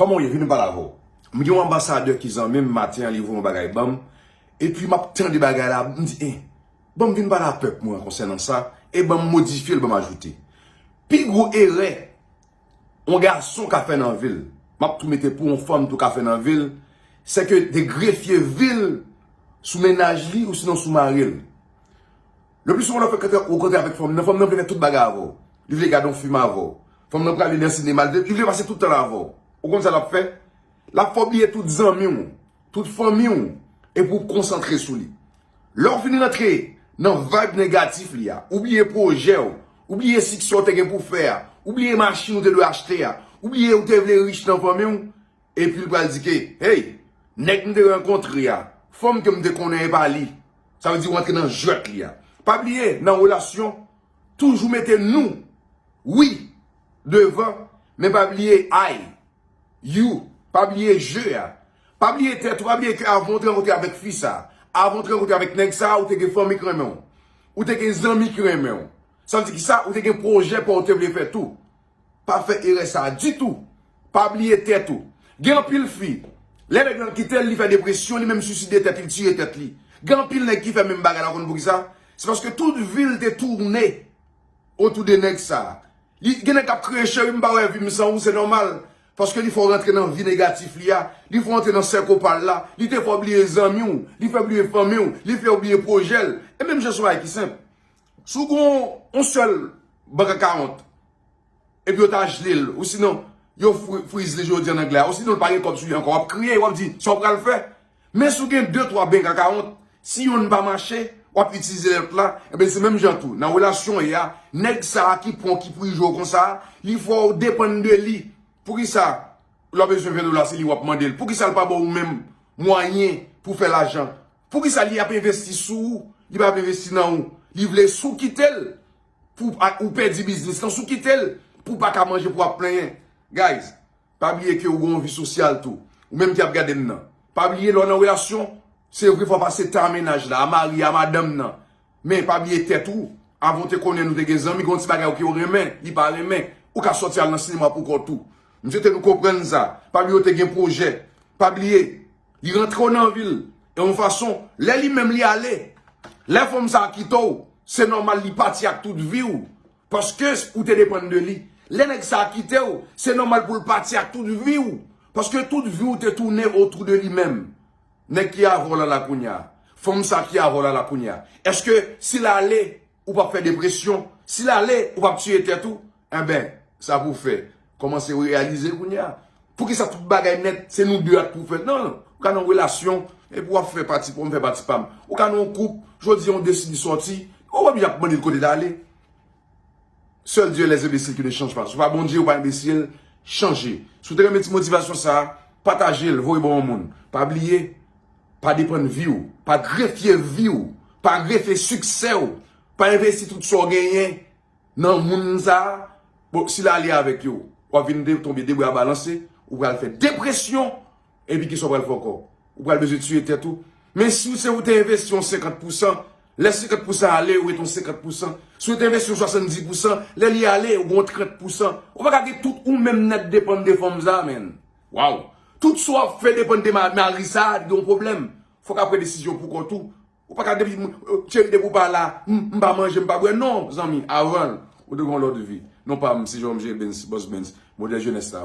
Koman w ye vin m pale avè w. M gen yon anbasadè ki zanmi m maten an li voye yon bagay banm epi m ap tande bagay la m di eh banm vin pale a pèp mwen konsènan sa e banm modifye l banm ajoute. Pi gwo erè yon gason ka fè nan vi l m ap tou mete pou yon fanm tou ka fè nan vi l se ke de grefye vi l sou mennaj li ou sinon sou mari l. Le plus souvent nan frenkante ou rankontre avèk fanm nan, fanm nan vle fè tout bagay avè w. Li vle gade yon fim avè w. Fanm nan prale nan sinema, li vle pase tout tan l avè w. Ou konn sa l ap fè? L ap fè w bliye tout zanmi w, tout fanmi w e pou w konsantre sou li. Lè w fin rantre nan vayb negatif li a, ou bliye pwojè w, ou bliye siksè w te gen pou w fè a, ou bliye machin ou te dwe achte a, ou bliye ou te vle rich nan fanmi w, Epi l pral di ke, Hey! Nèg m te rankontre a, fanm ke m te konnen e pa li. Sa vle di ou antre nan jwèt li a. Pa bliye, nan relasyon, toujou mete nou, we, devan, men pa bliye I, you, pa bliye je a. Pa bliye tèt ou, pa bliye ke avan ou te rankontre avèk fi sa, avan ou te rankontre avèk nèg sa, ou te gen fanmi ki renmen ou. Ou te gen zanmi ki renmen ou. Sa vle di ki sa? Ou te gen pwojè pa ou te vle fè tou. Pa fè erè sa ditou. Pa bliye tèt ou. Gen anpil fi, lè nèg lan kite l, li fè depresyon, li menm swiside tèt li, li tiye tèt li. Gen anpil nèg ki fè menm bagay la ou konn poukisa? Se paske tout vi l te tourne otou de nèg sa. Li gen nèg k ap kriye cheri m pa wè vi m san ou se nòmal. Paske li fè w rantre nan vi negatif li a, li fè w antre nan sèko pa l la, li te fè w bliye zanmi w, li fè w bliye fanmi w, li fè w bliye pwojè l. E menm jan se yon bagay ki senp. Si w gen yon sèl bank akawont, epi yo ta jle l, ou sinon yo friz li, jan yo di an anglè a, ou sinon l pa gen kòb sou li ankò, w ap kriye, w ap di, sa w pral fè? Men si w gen de, twa bank akawont, si yonn pa mache, w ap itilize lòt la, enben se menm jan tou, nan relasyon w ye a, nèg sa a ki pran w, ki prije w konsa a, li fè w depann de li. Poukisa lè w bezwen 20 dola se li w ap mande l? Poukisa l pa ba w ou menm mwayen pou w fè lajan? Poukisa li ap envesti sou ou, li pa ap envesti nan ou. Li vle si w kite l pou ou pèdi biznis lan, si w kite l pou w pa ka manje pou w ap plenyen. Guys, pa bliye ke ou gen yon vi sosyal tou. Ou menm ki ap gade m nan. Pa bliye lè w nan relasyon, se vre fò w pase tan a mennaj la, a mari, a madanm nan. Men pa bliye tèt ou. Avan w te konnen nou te gen zanmi, gen yon ti bagay ok ou renmen, li pa renmen. Ou ka sòti al nan sinema pou kò w tou. M swete nou konprann sa. Pa bliye w te gen pwojè. Pa bliye. Li rantre w nan vi l e yon fason lè li menm li ale. Lè fanm sa kite w, se nòmal li pati ak tout vi w paske ou te depann de li. Lè nèg sa kite w, se nòmal pou l pati ak tout vi w paske tout vi w te tounen otou de li menm. Nèg ki avè w la la kounya. Fanm sa ki avè w la la kounya. Eske si l ale. ou pap fè depresyon, si l ale ou pap tiye tèt ou, enben sa pou w fè kòmanse reyalize kounye a, poukisa tout bagay nèt se nou 2 ak pou w fè, nan ou ka nan yon relasyon epi wap fè pati pa w m fè pati pa m, ou ka nan yon koup jodi an ou deside sòti ou wè misye ap mande l kote l ale, seul Dieu est les imbeciles qui ne changent pas, si w pa Bondye ou pa enbesil, chanje, si w te renmen ti motivasyon sa, pataje l voye ba yon moun, pa bliye Pa depann vi w, pa grefye vi w, pa grefye siksè w, pa envesti tout sa w genyen nan moun sa a. Bon, si l ale avèk yo, w ap vin tonbe debra balanse, ou pral fè depresyon, epi ki sa w pral fè ankò? Ou pral bezwen tiye tèt ou. Men si w se ou te envesti yon senkant pousan, lè senkant pousan ale, ou ret yon senkant pousan. Si w te envesti yon swasannzi pousan, lè li ale, ou gen yon trant pousan. Ou pa ka gen tout ou menm nèt depann de fanm sa a, menn. Waw tout sa wap fè depann de Marie sa yon pwoblèm fok ap pran desizyon pou kont ou ou paka depi tcheri depi ou pa la m pa manje m pa bwè non zanmi avanl ou te gen yon lòt vi non pam se Jérôme J Bens Boss Bens modèl jenès la.